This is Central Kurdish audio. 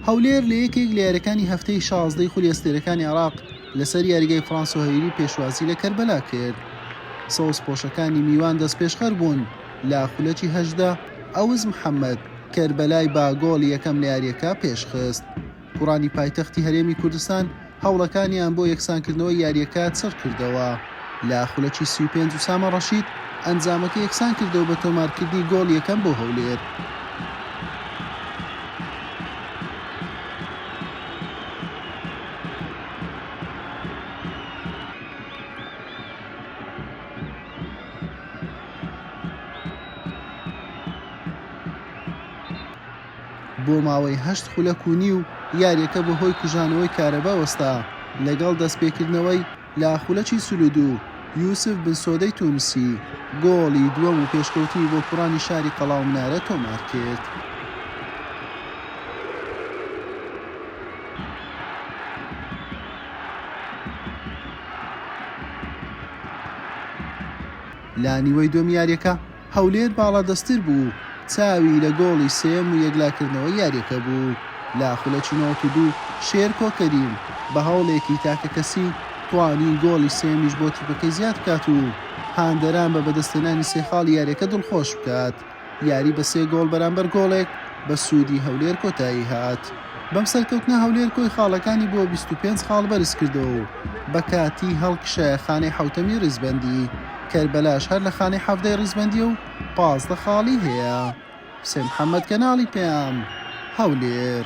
هەولێر لە یەکێک لە یاریەکانی هەفتەی شازدەی خولی ئەستێرەکانی عراق لەسەر یاریگای فرانسۆ هەیری پێشوازی لە کەربەلا کرد سەوز پۆشەکانی میوان دەست پێشخەر بوون لە خولەکی هەژدە ئەوز محەممەد کەربەلای با گۆڵی یەکەم لە یاریەکە پێشخست گوڕانی پایتەختی هەرێمی کوردستان هەوڵەکانیان بۆ یەکسانکردنەوەی یارییەکە چڕکردەوە لە خولەکی سی و پێنج ئوسامە ڕەشید ئەنجامەکە یەکسانکردەوە بە تۆمارکردنی گۆڵ یەکەم بۆ هەولێر. بۆ ماوەی هەشت خولەک و نیو یاریەکە بەهۆی کوژانەوەی کارەبا وەستا، لەگەڵ دەستپێکردنەوەی لە خولەکی چل و دوو، یوسف بنسۆدەی تونسی گۆڵی دووەم و پێشکەوتنی بۆ کوڕانی شاری قەڵاومنارە تۆمارکرد. لە نیوەی دووەمی یاریەکە، هەولێر باڵادەستتر بوو و چاوی لە گۆڵی سێیەم و یەکلاکردنەوەی یارییەکە بوو لە خولەکی نەوەد و دوو، شێرکۆ کەریم بە هەوڵێکی تاکەکەسی توانی گۆڵی سێیەمیش بۆ تیپەکەی زیاد بکات و هاندەران بە بەدەستهێنانی سێ خاڵی یارییەکە دڵخۆش بکات، یاری بە سێ گۆڵ بەرامبەر گۆڵێک بە سوودی هەولێر کۆتایی هات. بەم سەرکەوتنە هەولێر کۆی خاڵەکانی بۆ بیست و پێنج خاڵ بەرزکردەوە و بە کاتی هەڵکشایە خانەی حەوتەمی ریزبەندی، کەربەلاش هەر لە خانەی حەڤدەی ریزبەندیە و پازدە خاڵی هەیە. حوسێن محەمەد کەناڵی پەیام، هەولێر.